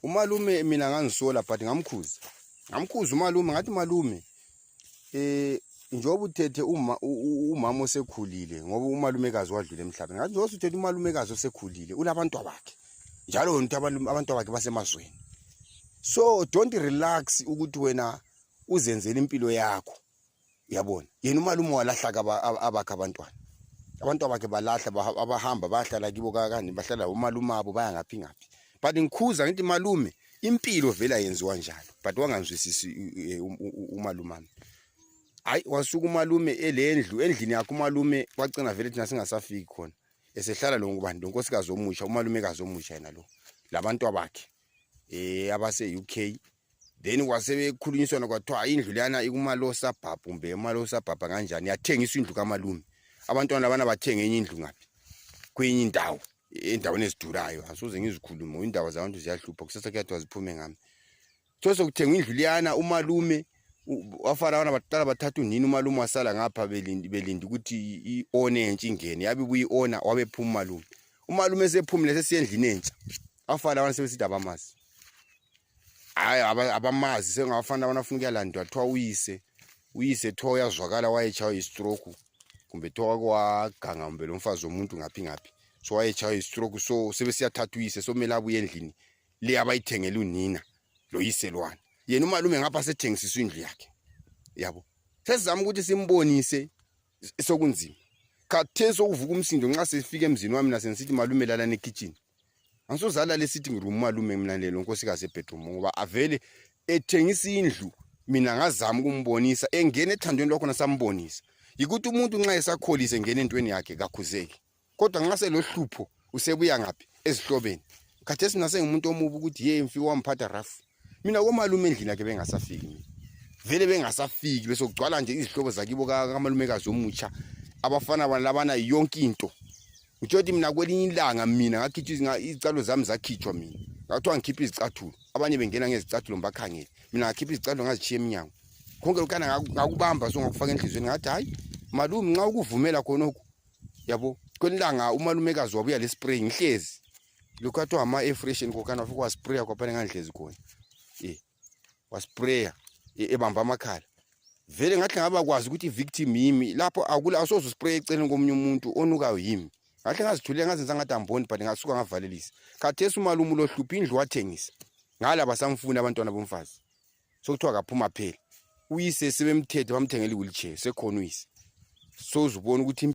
umalume mina ngangisola but ngamkhuza ngamkhuza umalume ngathi malume eh njengoba uthethe uma umama osekhulile ngoba umalumekazi wadlula emhlabeni ngathi njengoba uthethe umalumekazi osekhulile unabantu bakhe njalo wena uthi abantu bakhe basemazweni so don't relax ukuthi wena uzenzele impilo yakho yabona yena umalume walahla abakhe abantwana abantu abakhe balahla abahamba bayahlala kibo kakani bahlala umalume abo baya ngaphi ngaphi but ngikhuza ngithi malume impilo vele ayenziwa njalo but wangangizwisisi e, umalumami hayi wasuka umalume elendlu endlini yakhe umalume wagcina vele thina singasafiki khona esehlala lo ngubani lo nkosikazi omusha umalumekazi omusha yena lo labantu abakhe eh abase UK then wasebekhulunyiswana kwathiwa indlu leyana ikumalosa bhabha kumbe emalosa bhabha kanjani yathengiswa indlu kamalume abantwana labana bathenga enye indlu ngaphi kwenye indawo endaweni ezidurayo asoze ngizikhulume indaba zabantu ziyahlupha kusasa kuyathiwa ziphume ngami so sekuthengwa indlu liyana umalume wafana abana baqala bathatha unini umalume wasala ngapha belindi belindi ukuthi i-one entsha ingene yabe buyi-ona wabephuma umalume umalume sephumile sesiyendlini entsha abafana abana sebesithi abamazi hayi abamazi sengabafana abana funa ukuyalandwa kuthiwa uyise uyise kuthiwa uyazwakala wayetshaywa yistroke kumbe kuthiwa wake waganga kumbe lo mfazi womuntu ngaphi ngaphi so wayetshaywa yistroke so sebesiyathatha uyise so kumele abuye endlini le abayithengele unina lo yise lwana yena umalume ngapha sethengisiswa indlu yakhe yabo sesizama ukuthi simbonise sokunzima khathesi okuvuka umsindo nxa sifika emzini wami nasengisithi malume lalana ekitshini angisozalala esithi ngirumu malume mina lelo nkosikazi ebedroom ngoba avele ethengisa indlu mina ngazama ukumbonisa engena ethandweni lwakhona sambonisa yikuthi umuntu nxa esakholise engena entweni yakhe kakhuzeki kodwa nxa selohlupho usebuya ngaphi ezihlobeni khathesi mina sengimuntu omubi ukuthi ye mfi wamphatha rafu mina komalume endlini yakhe bengasafiki mina vele bengasafiki bese kugcwala nje izihlobo zakibo kamalumekazi omutsha abafana bana labana yonke into ngitsho ukuthi mina kwelinye ilanga mina ngakhitshwa izicathulo zami zakhitshwa mina ngakuthiwa ngikhiphe izicathulo abanye bengena ngezicathulo ngibakhangele mina ngakhipha izicathulo ngazitshiya emnyango konke lokana ngakubamba so ngakufaka enhliziyweni ngathi hhayi malume nxa ukuvumela khonokhu yabo kwelinye ilanga umalumekazi wabuya le spray ngihlezi Luka to hama e fresh in kokana fuku wa sprayer kwa pale nganhlezi khona. Eh. Wa sprayer e, ebamba amakhala. Vele ngathi ngaba kwazi ukuthi victim yimi lapho akula asozo spray eceleni komunye umuntu onukayo yimi. Ngathi ngazithulela ngazenza ngathi amboni but ngasuka ngavalelisa. Khathesi umalumu lo hluphi indlu wathengisa. Ngala basamfuna abantwana bomfazi. Sokuthiwa kaphuma phela. Uyise sebemthethe bamthengela iwheelchair sekhona uyise. Sozubona ukuthi